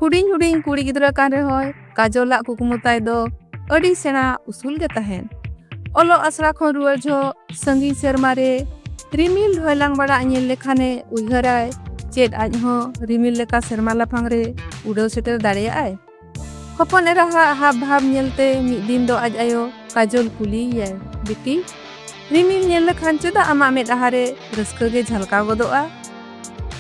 ᱦᱩᱰᱤᱧ ᱦᱩᱰᱤᱧ ᱠᱩᱲᱤ ᱜᱤᱫᱽᱨᱟᱹ ᱠᱟᱱ ᱨᱮᱦᱚᱸᱭ ᱠᱟᱡᱚᱞᱟᱜ ᱠᱩᱠᱢᱩ ᱛᱟᱭ ᱫᱚ ᱟᱹᱰᱤ ᱥᱮᱬᱟ ᱩᱥᱩᱞ ᱜᱮ ᱛᱟᱦᱮᱱ ᱚᱞᱚᱜ ᱟᱥᱲᱟ ᱠᱷᱚᱱ ᱨᱩᱣᱟᱹᱲ ᱡᱚᱦᱚᱜ ᱥᱟᱺᱜᱤᱧ ᱥᱮᱨᱢᱟ ᱨᱮ ᱨᱤᱢᱤᱞ ᱰᱷᱚᱭᱞᱟᱝ ᱵᱟᱲᱟᱜ ᱧᱮᱞ ᱞᱮᱠᱷᱟᱱᱮ ᱩᱭᱦᱟᱹᱨᱟᱭ ᱪᱮᱫ ᱟᱡ ᱦᱚᱸ ᱨᱤᱢᱤᱞ ᱞᱮᱠᱟ ᱥᱮᱨᱢᱟ ᱞᱟᱯᱷᱟᱝ ᱨᱮ ᱩᱰᱟᱹᱣ ᱥᱮᱴᱮᱨ ᱫᱟᱲᱮᱭᱟᱜᱼᱟᱭ ᱦᱚᱯᱚᱱ ᱮᱨᱟ ᱦᱟᱜ ᱦᱟᱵ ᱵᱷᱟᱵ ᱧᱮᱞᱛᱮ ᱢᱤᱫ ᱫᱤᱱ ᱫᱚ ᱟᱡ ᱟᱭᱳ ᱠᱟᱡᱚᱞ ᱠᱩᱞᱤᱭᱮᱭᱟᱭ ᱵᱤᱴᱤ ᱨᱤᱢᱤᱞ ᱧᱮᱞ ᱞᱮᱠᱷᱟᱱ ᱪᱮᱫᱟᱜ ᱟᱢᱟᱜ ᱢᱮᱫ ᱟᱦᱟᱨᱮ ᱨᱟᱹᱥᱠᱟᱹ ᱜᱮ ᱡᱷᱟᱞᱠᱟᱣ ᱜᱚᱫᱚᱜᱼᱟ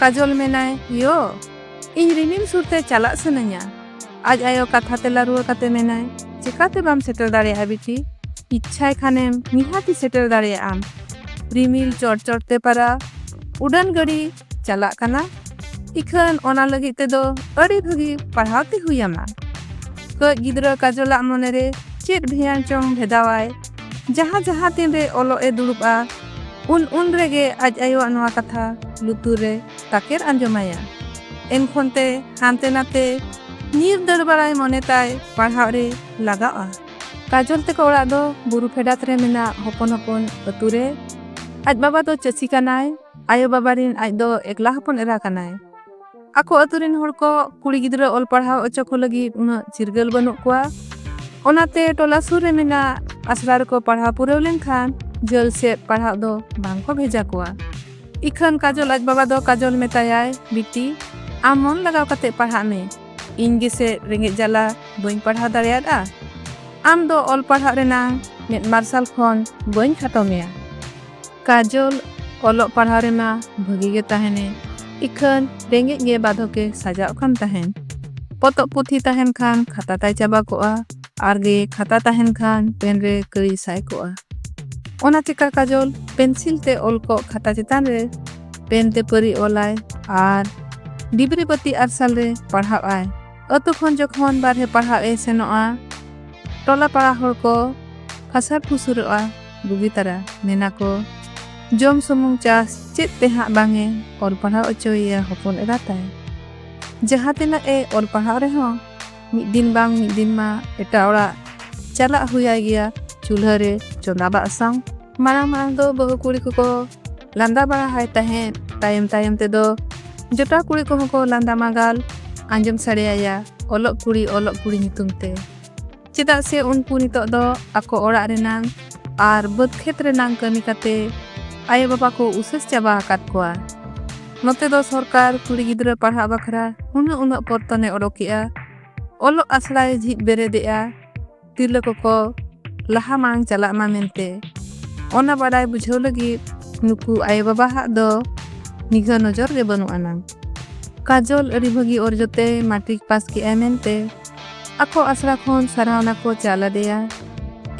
ᱠᱟᱡᱚᱞ ᱢᱮᱱᱟᱭ ᱭᱳ ᱤᱧ ᱨᱤᱢᱤᱞ ᱥᱩᱨᱛᱮ ᱪᱟᱞᱟᱜ ᱥᱟᱱᱟᱧᱟ ᱟᱡ ᱟᱭᱳ ᱠᱟᱛᱷᱟ ᱛᱮᱞᱟ ᱨᱩᱣᱟᱹ ᱠᱟᱛᱮ ᱢᱮᱱᱟᱭ ᱪᱮᱠᱟᱛᱮ ᱵᱟᱢ ᱥᱮᱴᱮᱨ ᱫᱟᱲᱮᱭᱟᱜᱼᱟ ᱵᱤᱴᱤ ᱤᱪᱪᱷᱟᱭ ᱠᱷᱟᱱᱮᱢ ᱱᱤᱦᱟᱹᱛᱤ ᱥᱮᱴᱮᱨ ᱫᱟᱲᱮᱭᱟᱜᱼᱟᱢ ᱨᱤᱢᱤᱞ ᱪᱚᱴ ᱪᱚᱴᱛᱮ ᱯᱟᱨᱟ ᱩᱰᱟᱹᱱ ᱜᱟᱹᱰᱤ ᱪᱟᱞᱟᱜ ᱠᱟᱱᱟ ᱤᱠᱷᱟᱹᱱ ᱚᱱᱟ ᱞᱟᱹᱜᱤᱫ ᱛᱮᱫᱚ ᱟᱹᱰᱤ ᱵᱷᱟᱹᱜᱤ ᱯᱟᱲᱦᱟᱣ ᱛᱮ ᱦᱩᱭ ᱟᱢᱟ ᱠᱟᱹᱡ ᱜᱤᱫᱽᱨᱟᱹ ᱠᱟᱡᱚᱞᱟᱜ ᱢᱚᱱᱮ ᱨᱮ ᱪᱮᱫ ᱵᱷᱮᱭᱟᱱ ᱪᱚᱝ ᱵᱷᱮᱫᱟᱣᱟᱭ ᱡᱟᱦᱟᱸ ᱡᱟᱦᱟᱸ ᱛᱤᱱ ᱨᱮ ᱚᱞᱚᱜ ᱮ ᱫᱩᱲᱩᱵᱼᱟ ᱩᱱ ᱩᱱ ᱨᱮᱜᱮ ᱟᱡ ᱟᱭᱳᱣᱟᱜ ᱱᱚᱣᱟ ᱠᱟᱛᱷᱟ ᱞᱩᱛᱩᱨ ᱨᱮ ᱛᱟᱠᱮᱨ ᱟᱸᱡᱚᱢᱟᱭᱟ ᱮᱱᱠᱷᱚᱱ ᱛᱮ ᱦᱟᱱᱛᱮ ᱱᱟᱛᱮ ᱧᱤᱨ ᱫᱟᱹᱲ ᱵᱟᱲᱟᱭ ᱢᱚᱱᱮ ᱛᱟᱭ ᱯᱟᱲᱦᱟᱣ ᱨᱮ ᱞᱟᱜᱟᱜᱼᱟ ᱠᱟᱡᱚᱞ ᱛᱮᱠᱚ ᱚᱲᱟᱜ ᱫᱚ ᱵᱩᱨᱩ ᱯᱷᱮᱰᱟᱛ ᱨᱮ ᱢᱮᱱᱟᱜ ᱦᱚᱯᱚᱱ ᱦᱚᱯᱚᱱ ᱟᱹᱛᱩ ᱨᱮ ᱟᱡ ᱵᱟᱵᱟ ᱫᱚ ᱪᱟᱹᱥᱤ ᱠᱟᱱᱟᱭ ᱟᱭᱳ ᱵᱟᱵᱟ ᱨᱤᱱ ᱟᱡ ᱫᱚ ᱮᱠᱞᱟ ᱦᱚᱯᱚᱱ ᱮᱨᱟ ᱠᱟᱱᱟᱭ ᱟᱠᱚ ᱟᱹᱛᱩ ᱨᱤᱱ ᱦᱚᱲ ᱠᱚ ᱠᱩᱲᱤ ᱜᱤᱫᱽᱨᱟᱹ ᱚᱞ ᱯᱟᱲᱦᱟᱣ ᱚᱪᱚ ᱠᱚ ᱞᱟᱹᱜᱤᱫ ᱩᱱᱟᱹᱜ ᱪᱤᱨᱜᱟᱹᱞ ᱵᱟᱹᱱᱩᱜ ᱠᱚᱣᱟ ᱚᱱᱟᱛᱮ ᱴᱚᱞᱟ ᱥᱩᱨ ᱨᱮ ᱢᱮᱱᱟᱜ ᱟᱥᱲᱟ ᱨᱮᱠᱚ ᱯᱟᱲᱦᱟᱣ ᱯᱩᱨᱟᱹᱣ ᱞᱮᱱᱠᱷᱟᱱ ᱡᱷᱟᱹᱞ ᱥᱮᱫ ᱯᱟᱲᱦᱟᱣ ᱫᱚ ᱵᱟᱝ ᱠᱚ ᱵᱷᱮᱡᱟ ᱠᱚᱣᱟ ᱤᱠᱷᱟᱹᱱ ᱠᱟᱡᱚᱞ ᱟᱡ ᱵᱟᱵᱟ ᱫᱚ ᱠᱟᱡᱚᱞ ᱢᱮᱛᱟᱭᱟᱭ ᱵᱤᱴᱤ ᱟᱢ ᱢᱚᱱ ᱞᱟᱜᱟᱣ ᱠᱟᱛᱮ ᱯᱟᱲᱦᱟᱜ ᱢᱮ ᱤᱧ ᱜᱮᱥᱮ ᱨᱮᱸᱜᱮᱡ ᱡᱟᱞᱟ ᱵᱟᱹᱧ ᱯᱟᱲᱦᱟᱣ ᱫᱟᱲᱮᱭᱟᱫᱼᱟ ᱟᱢ ᱫᱚ ᱚᱞ ᱯᱟᱲᱦᱟᱜ ᱨᱮᱱᱟᱝ ᱢᱮᱫ ᱢᱟᱨᱥᱟᱞ ᱠᱷᱚᱱ ᱵᱟᱹᱧ ᱠᱷᱟᱴᱚ ᱢᱮᱭᱟ ᱠᱟᱡᱚᱞ ᱚᱞᱚᱜ ᱯᱟᱲᱦᱟᱣ ᱨᱮᱢᱟ ᱵᱷᱟᱹᱜᱤ ᱜᱮ ᱛᱟᱦᱮᱱᱮ ᱤᱠᱷᱟᱹᱱ ᱨᱮᱸᱜᱮᱡ ᱜᱮ ᱵᱟᱫᱷᱚᱠᱮ ᱥᱟᱡᱟᱜ ᱠᱟᱱ ᱛᱟᱦᱮᱱ ᱯᱚᱛᱚᱵ ᱯᱩᱛᱷᱤ ᱛᱟᱦᱮᱱ ᱠᱷᱟᱱ ᱠᱷᱟᱛᱟ ᱛᱟᱭ ᱪᱟᱵᱟ ᱠᱚᱜᱼᱟ ᱟᱨ ᱜᱮ ᱠᱷᱟᱛᱟ ᱛᱟᱦᱮᱱ ᱠᱷᱟᱱ ᱯᱮᱱ ᱨᱮ ᱠᱟᱹᱭ ᱥᱟᱭ ᱠᱚᱜᱼᱟ ᱚᱱᱟ ᱪᱮᱠᱟ ᱠᱟᱡᱚᱞ ᱯᱮᱱᱥᱤᱞ ᱛᱮ ᱚᱞ ᱠᱚᱜ ᱠᱷᱟᱛᱟ ᱪᱮᱛᱟᱱ ᱨᱮ ᱯᱮᱱ ᱛᱮ ᱯᱟᱹᱨᱤ ᱚᱞᱟᱭ ᱟᱨ ᱰᱤᱵᱨᱤ ᱵᱟᱹᱛᱤ ᱟᱨᱥᱟᱞ ᱨᱮ ᱯᱟᱲᱦᱟᱣ ᱟᱭ ᱟᱹᱛᱩ ᱠᱷᱚᱱ ᱡᱚᱠᱷᱚᱱ ᱵᱟᱨᱦᱮ ᱯᱟᱲᱦᱟᱣ ᱮ ᱥᱮᱱᱚᱜᱼᱟ ᱴᱚᱞᱟ ᱯᱟᱲᱟ ᱦᱚᱲ ᱠᱚ ᱯᱷᱟᱥᱟᱨ ᱯᱷᱩᱥᱩᱨᱚᱜᱼᱟ ᱵᱩᱜᱤ ᱛᱟᱨᱟ ᱢᱮᱱᱟ ᱠᱚ ᱡᱚᱢ ᱥᱩᱢᱩᱝ ᱪᱟᱥ ᱪᱮᱫ ᱛᱮ ᱦᱟᱸᱜ ᱵᱟᱝ ᱮ ᱚᱞ ᱯᱟᱲᱦᱟᱣ ᱚᱪᱚᱭᱮᱭᱟ ᱦᱚᱯᱚᱱ ᱮᱨᱟ ᱛᱟᱭ ᱡᱟᱦᱟᱸ ᱛᱤᱱᱟᱹᱜ ᱮ ᱚᱞ ᱯᱟᱲᱦᱟᱣ ᱨᱮᱦᱚᱸ ᱢᱤᱫ ᱫᱤᱱ ᱵᱟᱝ ᱢᱤᱫ ᱫᱤᱱ ᱢᱟ ᱮᱴᱟᱜ ᱚᱲᱟᱜ ᱪᱟᱞᱟᱜ ᱦᱩᱭᱟᱭ ᱜᱮᱭᱟ ᱪᱩᱞᱦᱟᱹ ᱨᱮ ᱪᱚᱸᱫᱟ ᱵᱟᱥᱟᱝ ᱢᱟᱲᱟᱝ ᱢᱟᱲᱟᱝ ᱫᱚ ᱵᱟᱹᱦᱩ ᱠᱩᱲᱤ ᱠᱚᱠᱚ ᱞᱟᱸᱫᱟ ᱵᱟᱲᱟ ᱦᱟᱭ ᱛᱟᱦᱮᱸᱫ ᱛᱟᱭᱚᱢ ᱛᱟᱭᱚᱢ ᱛᱮᱫᱚ ᱡᱚᱴᱟᱣ ᱠᱩᱲᱤ ᱠᱚᱦᱚᱸ ᱠᱚ ᱞᱟᱸᱫᱟ ᱢᱟᱜᱟᱞ ᱟᱸᱡᱚᱢ ᱥᱟᱰᱮᱭᱟᱭᱟ ᱚᱞᱚᱜ ᱠᱩᱲᱤ ᱚᱞᱚᱜ ᱠᱩᱲᱤ ᱧᱩᱛᱩᱢ ᱛᱮ ᱪᱮᱫᱟᱜ ᱥᱮ ᱩᱱᱠᱩ ᱱᱤᱛᱚᱜ ᱫᱚ ᱟᱠᱚ ᱚᱲᱟᱜ ᱨᱮᱱᱟᱝ ᱟᱨ ᱵᱟᱹᱫᱽ ᱠᱷᱮᱛ ᱨᱮᱱᱟᱝ ᱠᱟᱹᱢᱤ ᱠᱟᱛᱮ ᱟᱭᱳ ᱵᱟᱵᱟ ᱠᱚ ᱩᱥᱟᱹᱥ ᱪᱟᱵᱟ ᱟᱠᱟᱫ ᱠᱚᱣᱟ ᱱᱚᱛᱮ ᱫᱚ ᱥᱚᱨᱠᱟᱨ ᱠᱩᱲᱤ ᱜᱤᱫᱽᱨᱟᱹ ᱯᱟᱲᱦᱟᱜ ᱵᱟᱠᱷᱨᱟ ᱩᱱᱟᱹᱜ ᱩᱱᱟᱹᱜ ᱯᱚᱨᱛᱚᱱᱮ ᱚᱰᱚᱠᱮᱜᱼᱟ ᱚᱞᱚᱜ ᱟᱥᱲᱟᱭ ᱡᱷᱤᱡ ᱵᱮᱨᱮᱫᱮᱜᱼᱟ ᱛᱤᱨᱞᱟᱹ ᱠᱚᱠᱚ ᱞᱟᱦᱟ ᱢᱟᱲᱟᱝ ᱪᱟᱞᱟᱜ ᱢᱟ ᱢᱮᱱᱛᱮ ᱚᱱᱟ ᱵᱟᱰᱟᱭ ᱵᱩᱡᱷᱟᱹᱣ ᱞᱟᱹᱜᱤᱫ ᱱᱩᱠᱩ ᱟᱭᱳᱼᱵᱟᱵᱟᱣᱟᱜ ᱫᱚ ᱱᱤᱜᱷᱟᱹ ᱱᱚᱡᱚᱨ ᱜᱮ ᱵᱟᱹᱱᱩᱜ ᱟᱱᱟᱝ ᱠᱟᱡᱚᱞ ᱟᱹᱰᱤ ᱵᱷᱟᱹᱜᱤ ᱚᱨᱡᱚᱛᱮ ᱢᱟᱴᱨᱤᱠ ᱯᱟᱥ ᱠᱮᱜᱼᱟᱭ ᱢᱮᱱᱛᱮ ᱟᱠᱚ ᱟᱥᱲᱟ ᱠᱷᱚᱱ ᱥᱟᱨᱦᱟᱣᱱᱟ ᱠᱚ ᱪᱟᱞ ᱟᱫᱮᱭᱟ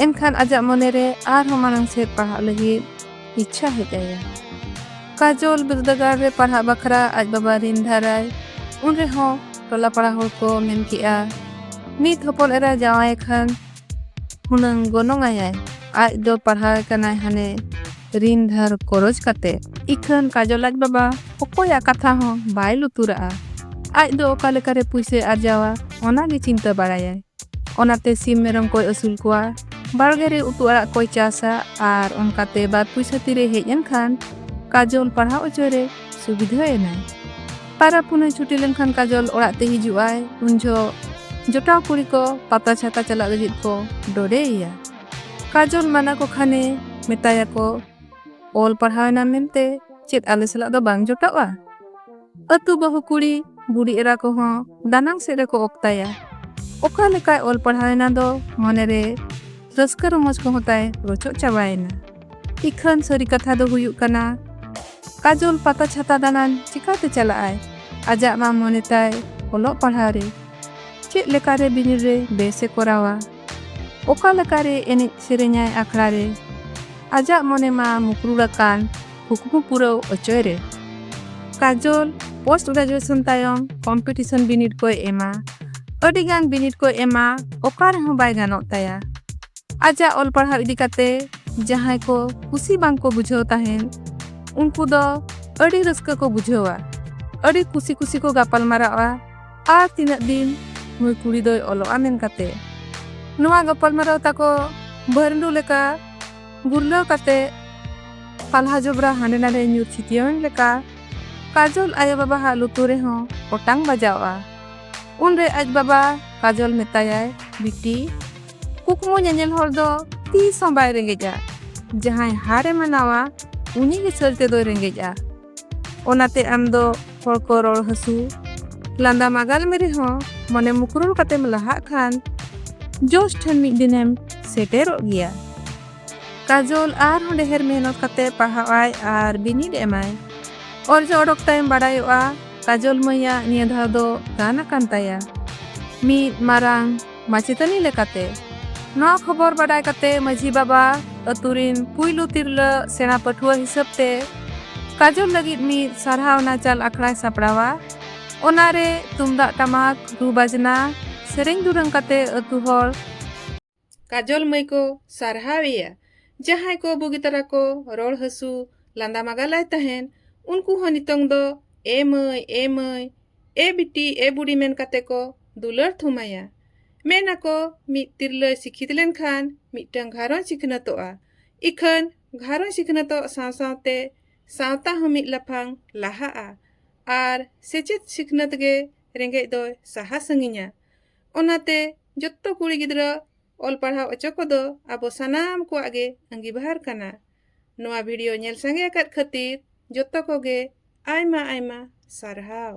ᱮᱱᱠᱷᱟᱱ ᱟᱡᱟᱜ ᱢᱚᱱᱮᱨᱮ ᱟᱨᱦᱚᱸ ᱢᱟᱲᱟᱝ ᱥᱮᱫ ᱯᱟᱲᱦᱟᱜ ᱞᱟᱹᱜᱤᱫ ᱤᱪᱪᱷᱟ ᱦᱮᱡ ᱟᱭᱟ ᱠᱟᱡᱚᱞ ᱵᱤᱨᱫᱟᱹᱜᱟᱲ ᱨᱮ ᱯᱟᱲᱦᱟᱜ ᱵᱟᱠᱷᱨᱟ ᱟᱡ ᱵᱟᱵᱟ ᱨᱤᱱ ᱫᱷᱟᱨᱟᱭ ᱩᱱ ᱨᱮᱦᱚᱸ ᱴᱚᱞᱟ ᱯᱟᱲᱟ ᱦᱚᱲ ᱠᱚ ᱢᱮᱱ ᱠᱮᱜᱼᱟ ᱢᱤᱫ ᱦᱚᱯᱚᱱ ᱮᱨᱟ ᱡᱟᱶᱟᱭ ᱠᱷᱟᱱ ᱦᱩᱱᱟᱹᱝ ᱜᱚᱱᱚᱝ ᱟᱭᱟᱭ ᱟᱡ ᱫᱚ ᱯᱟᱲᱦᱟᱣ ᱠᱟᱱᱟᱭ ᱦᱟᱱᱮ ᱨᱤᱱ ᱫᱷᱟᱨ ᱠᱚᱨᱚᱡ ᱠᱟᱛᱮ ᱤᱠᱷᱟᱹᱱ ᱠᱟᱡᱚᱞ ᱟᱡ ᱵᱟᱵᱟ ᱚᱠᱚᱭᱟᱜ ᱠᱟᱛᱷᱟ ᱦᱚᱸ ᱵᱟᱭ ᱞᱩᱛᱩᱨᱟᱜᱼᱟ ᱟᱡ ᱫᱚ ᱚᱠᱟ ᱞᱮᱠᱟᱨᱮ ᱯᱩᱭᱥᱟᱹᱭ ᱟᱨᱡᱟᱣᱟ ᱚᱱᱟ ᱜᱮ ᱪᱤᱱᱛᱟᱹ ᱵᱟᱲᱟᱭᱟᱭ ᱚᱱᱟᱛᱮ ᱥᱤᱢ ᱢᱮᱨᱚᱢ ᱠᱚᱭ ᱟᱹᱥᱩᱞ ᱠᱚᱣᱟ ᱵᱟᱲᱜᱮ ᱨᱮ ᱩᱛᱩ ᱟᱲᱟᱜ ᱠᱚᱭ ᱪᱟᱥᱟ ᱟᱨ ᱚᱱᱠᱟᱛᱮ ᱵᱟᱨ ᱯᱩᱭᱥᱟᱹ ᱛᱤᱨᱮ ᱦᱮᱡ ᱮᱱ ᱠᱷᱟᱱ ᱠᱟᱡᱚᱞ ᱯᱟᱲᱦᱟᱣ ᱚᱪᱚᱭ ᱨᱮ ᱥᱩᱵᱤᱫᱷᱟ ᱮᱱᱟᱭ ᱯᱟᱨᱟ ᱯᱩᱱᱟᱹᱭ ᱪᱷᱩᱴᱤ ᱞᱮᱱᱠᱷᱟᱱ ᱠᱟᱡᱚᱞ ᱚᱲᱟᱜ ᱛᱮ ᱦᱤᱡᱩᱜ ᱟᱭ ᱩᱱ ᱡᱚᱦᱚᱜ ᱡᱚᱴᱟᱣ ᱠᱩᱲᱤ ᱠᱚ ᱯᱟᱛᱟ ᱪᱷᱟᱛᱟ ᱪᱟᱞᱟᱜ ᱞᱟᱹᱜᱤᱫ ᱠᱚ ᱰᱚᱰᱮᱭᱮᱭᱟ ᱠᱟᱡᱚᱞ ᱢᱟᱱᱟ ᱠᱚ ᱠᱷᱟᱱᱮ ᱢᱮᱛᱟᱭᱟᱠᱚ ᱚᱞ ᱯᱟᱲᱦᱟᱣ ᱮᱱᱟ ᱢᱮᱱᱛᱮ ᱪᱮᱫ ᱟᱞᱮ ᱥᱟᱞᱟᱜ ᱫᱚ ᱵᱟᱝ ᱡᱚᱴᱟᱜᱼᱟ ᱟᱹᱛᱩ ᱵᱟᱹᱦᱩ ᱠᱩᱲᱤ ᱵᱩᱰᱤ ᱮᱨᱟ ᱠᱚᱦᱚᱸ ᱫᱟᱱᱟᱝ ᱥᱮᱫ ᱨᱮᱠᱚ ᱚᱠᱛᱟᱭᱟ ᱚᱠᱟ ᱞᱮᱠᱟᱭ ᱚᱞ ᱯᱟᱲᱦᱟᱣ ᱮᱱᱟ ᱫᱚ ᱢᱚᱱᱮᱨᱮ ᱨᱟᱹᱥᱠᱟᱹ ᱨᱚᱢᱚᱡᱽ ᱠᱚᱦᱚᱸ ᱛᱟᱭ ᱨᱚᱪᱚᱜ ᱪᱟᱵᱟᱭᱮᱱᱟ ᱤᱠᱷᱟᱹᱱ ᱥᱟᱹᱨᱤ ᱠᱟᱛᱷᱟ ᱫᱚ ᱦᱩᱭᱩᱜ ᱠᱟᱱᱟ ᱠᱟᱡᱚᱞ ᱯᱟᱛᱟ ᱪᱷᱟᱛᱟ ᱫᱟᱬᱟᱱ ᱪᱤᱠᱟᱹᱛᱮ ᱪᱟᱞᱟᱜᱼᱟᱭ ᱟᱡᱟᱜ ᱢᱟ ᱢᱚᱱᱮ ᱛᱟᱭ ᱚᱞᱚᱜ ᱯᱟᱲᱦᱟᱣ ᱨᱮ ᱪᱮᱫ ᱞᱮᱠᱟᱨᱮ ᱵᱤᱱᱤᱰ ᱨᱮ ᱵᱮᱥ ᱮ ᱠᱚᱨᱟᱣᱟ ᱚᱠᱟ ᱞᱮᱠᱟ ᱨᱮ ᱮᱱᱮᱡ ᱥᱮᱨᱮᱧᱟᱭ ᱟᱠᱷᱲᱟ ᱨᱮ ᱟᱡᱟᱜ ᱢᱚᱱᱮ ᱢᱟ ᱢᱩᱠᱨᱩᱲ ᱟᱠᱟᱱ ᱠᱩᱠᱢᱩ ᱯᱩᱨᱟᱹᱣ ᱚᱪᱚᱭ ᱨᱮ ᱠᱟᱡᱚᱞ ᱯᱳᱥᱴ ᱜᱨᱮᱡᱩᱭᱮᱥᱚᱱ ᱛᱟᱭᱚᱢ ᱠᱚᱢᱯᱤᱴᱤᱥᱚᱱ ᱵᱤᱱᱤᱰ ᱠᱚᱭ ᱮᱢᱟ ᱟᱹᱰᱤ ᱜᱟᱱ ᱵᱤᱱᱤᱰ ᱠᱚᱭ ᱮᱢᱟ ᱚᱠᱟ ᱨᱮᱦᱚᱸ ᱵᱟᱭ ᱜᱟᱱᱚᱜ ᱛᱟᱭᱟ ᱟᱡᱟᱜ ᱚᱞ ᱯᱟᱲᱦᱟᱣ ᱤᱫᱤ ᱠᱟᱛᱮ ᱡᱟᱦᱟᱸᱭ ᱠᱚ ᱠᱩᱥᱤ ᱵᱟᱝ ᱠᱚ ᱵᱩᱡᱷᱟᱹᱣ ᱛᱟᱦᱮᱱ ᱩᱱᱠᱩ ᱫᱚ ᱟᱹᱰᱤ ᱨᱟᱹᱥᱠᱟᱹ ᱠᱚ ᱵᱩᱡᱷᱟᱹᱣᱟ ᱟᱹᱰᱤ ᱠᱩᱥᱤ ᱠᱩᱥᱤ ᱠᱚ ᱜᱟᱯᱟᱞ ᱢᱟᱨᱟᱜᱼᱟ ᱟᱨ ᱛᱤᱱᱟᱹᱜ ᱫᱤᱱ ᱱᱩᱭ ᱠᱩᱲᱤ ᱫᱚᱭ ᱚᱞᱚᱜᱼᱟ ᱢᱮᱱ ᱠᱟᱛᱮ ᱱᱚᱣᱟ ᱜᱟᱯᱟᱞᱢᱟᱨᱟᱣ ᱛᱟᱠᱚ ᱵᱷᱟᱹᱨᱰᱩ ᱞᱮᱠᱟ ᱜᱩᱨᱞᱟᱹᱣ ᱠᱟᱛᱮ ᱯᱟᱞᱦᱟ ᱡᱚᱵᱽᱨᱟ ᱦᱟᱸᱰᱮ ᱱᱟᱰᱮ ᱧᱩᱨ ᱪᱷᱤᱛᱤᱭᱟᱹᱣᱮᱱ ᱞᱮᱠᱟ ᱠᱟᱡᱚᱞ ᱟᱭᱳ ᱵᱟᱵᱟᱦᱟᱜ ᱞᱩᱛᱩᱨ ᱨᱮᱦᱚᱸ ᱚᱴᱟᱝ ᱵᱟᱡᱟᱣᱼᱟ ᱩᱱᱨᱮ ᱟᱡ ᱵᱟᱵᱟ ᱠᱟᱡᱚᱞ ᱢᱮᱛᱟᱭᱟᱭ ᱵᱤᱴᱤ ᱠᱩᱠᱢᱩ ᱧᱮᱧᱮᱞ ᱦᱚᱲ ᱫᱚ ᱛᱤᱥ ᱦᱚᱸ ᱵᱟᱭ ᱨᱮᱸᱜᱮᱡᱼᱟ ᱡᱟᱦᱟᱸᱭ ᱦᱟᱨᱮ ᱢᱟᱱᱟᱣᱟ ᱩᱱᱤ ᱜᱮ ᱥᱟᱹᱨᱤ ᱛᱮᱫᱚᱭ ᱨᱮᱸᱜᱮᱡᱼᱟ ᱚᱱᱟᱛᱮ ᱟᱢ ᱫᱚ ᱦᱚᱲ ᱠᱚ ᱨᱚᱲ ᱦᱟᱹᱥᱩ ᱞᱟᱸᱫᱟ ᱢᱟᱜᱟᱞ ᱢᱮ ᱨᱮᱦᱚᱸ ᱢᱚᱱᱮ ᱢᱩᱠᱨᱩᱞ ᱠᱟᱛᱮᱢ ᱞᱟᱦᱟᱜ ᱠᱷᱟᱱ ᱡᱳᱥ ᱴᱷᱮᱱ ᱢᱤᱫ ᱫᱤᱱᱮᱢ ᱥᱮᱴᱮᱨᱚᱜ ᱜᱮᱭᱟ ᱠᱟᱡᱚᱞ ᱟᱨᱦᱚᱸ ᱰᱮᱦᱮᱨ ᱢᱮᱦᱱᱚᱛ ᱠᱟᱛᱮ ᱯᱟᱲᱦᱟᱣᱟᱭ ᱟᱨ ᱵᱤᱱᱤᱰ ᱮᱢᱟᱭ ᱚᱨᱡᱚ ᱚᱰᱚᱠ ᱛᱟᱭᱚᱢ ᱵᱟᱲᱟᱭᱚᱜᱼᱟ ᱠᱟᱡᱚᱞ ᱢᱟᱹᱭᱟᱜ ᱱᱤᱭᱟᱹ ᱫᱷᱟᱣ ᱫᱚ ᱜᱟᱱ ᱟᱠᱟᱱ ᱛᱟᱭᱟ ᱢᱤᱫ ᱢᱟᱨᱟᱝ ᱢᱟᱪᱮᱛᱟᱹᱱᱤ ᱞᱮᱠᱟᱛᱮ ᱱᱚᱣᱟ ᱠᱷᱚᱵᱚᱨ ᱵᱟᱰᱟᱭ ᱠᱟᱛᱮ ᱢᱟᱹᱡᱷᱤ ᱵᱟᱵᱟ ᱟᱹᱛᱩ ᱨᱤᱱ ᱯᱩᱭᱞᱩ ᱛᱤᱨᱞᱟᱹ ᱥᱮᱬᱟ ᱯᱟᱹᱴᱷᱩᱣᱟᱹ ᱦᱤᱥᱟᱹᱵ ᱛᱮ ᱠᱟᱡᱚᱞ ᱞᱟᱹᱜᱤᱫ ᱢᱤᱫ ᱥᱟᱨᱦᱟᱣ ᱱᱟᱪᱟᱞ ᱟᱠᱷᱲᱟᱭ ᱥᱟᱯᱲᱟᱣᱟ ᱚᱱᱟ ᱨᱮ ᱛᱩᱢᱫᱟᱜ ᱴᱟᱢᱟᱠ ᱨᱩ ᱵᱟᱡᱽᱱᱟ ᱥᱮᱨᱮᱧ ᱫᱩᱨᱟᱹᱝ ᱠᱟᱛᱮ ᱟᱹᱛᱩ ᱦᱚᱲ ᱠᱟᱡᱚᱞ ᱢᱟᱹᱭ ᱠᱚ ᱥᱟᱨᱦᱟᱣ ᱮᱭᱟ ᱡᱟᱦᱟᱸᱭ ᱠᱚ ᱵᱩᱜᱤ ᱛᱟᱨᱟ ᱠᱚ ᱨᱚᱲ ᱦᱟᱹᱥᱩ ᱞᱟᱸᱫᱟ ᱢᱟᱜᱟᱞᱟᱭ ᱛᱟᱦᱮᱸᱱ ᱩᱱᱠᱩ ᱦᱚᱸ ᱱᱤᱛᱚᱝ ᱫᱚ ᱮ ᱢᱟᱹᱭ ᱮ ᱢᱟᱹᱭ ᱮ ᱵᱤᱴᱤ ᱮ ᱵᱩᱰᱤ ᱢᱮᱱ ᱠᱟᱛᱮ ᱠᱚ ᱫᱩᱞᱟᱹᱲ ᱛᱷᱩᱢᱟᱭᱟ ᱢᱮᱱ ᱟᱠᱚ ᱢᱤᱫ ᱛᱤᱨᱞᱟᱹᱭ ᱥᱤᱠᱷᱤᱛ ᱞᱮᱱᱠᱷᱟᱱ ᱢᱤᱫᱴᱟᱝ ᱜᱷᱟᱨᱚᱸᱡᱽ ᱥᱤᱠᱷᱱᱟᱹᱛᱚᱜᱼᱟ ᱤᱠᱷᱟᱹᱱ ᱜᱷᱟᱨᱚᱸᱡᱽ ᱥᱤᱠᱷᱱᱟᱹᱛᱚᱜ ᱥᱟᱶ ᱥᱟᱶᱛᱮ ᱥᱟᱶᱛᱟ ᱦᱚᱸ ᱢᱤᱫ ᱞᱟᱯᱷᱟᱝ ᱞᱟᱦᱟᱜᱼᱟ ᱟᱨ ᱥᱮᱪᱮᱫ ᱥᱤᱠᱷᱱᱟᱹᱛ ᱜᱮ ᱨᱮᱸᱜᱮᱡ ᱫᱚᱭ ᱥᱟᱦᱟ ᱥᱟᱺᱜᱤᱧᱟ ᱚᱱᱟᱛᱮ ᱡᱚᱛᱚ ᱠᱩᱲᱤ ᱜᱤᱫᱽᱨᱟᱹ ᱚᱞ ᱯᱟᱲᱦᱟᱣ ᱚᱪᱚ ᱠᱚᱫᱚ ᱟᱵᱚ ᱥᱟᱱᱟᱢ ᱠᱚᱣᱟᱜ ᱜᱮ ᱟᱺᱜᱤᱵᱷᱟᱨ ᱠᱟᱱᱟ ᱱᱚᱣᱟ ᱵᱷᱤᱰᱤᱭᱳ ᱧᱮᱞ ᱥᱟᱸᱜᱮ ᱟᱠᱟᱫ ᱠᱷᱟᱹᱛᱤᱨ ᱡᱚᱛᱚ ᱠᱚᱜᱮ ᱟᱭᱢᱟ ᱟᱭᱢᱟ ᱥᱟᱨᱦᱟᱣ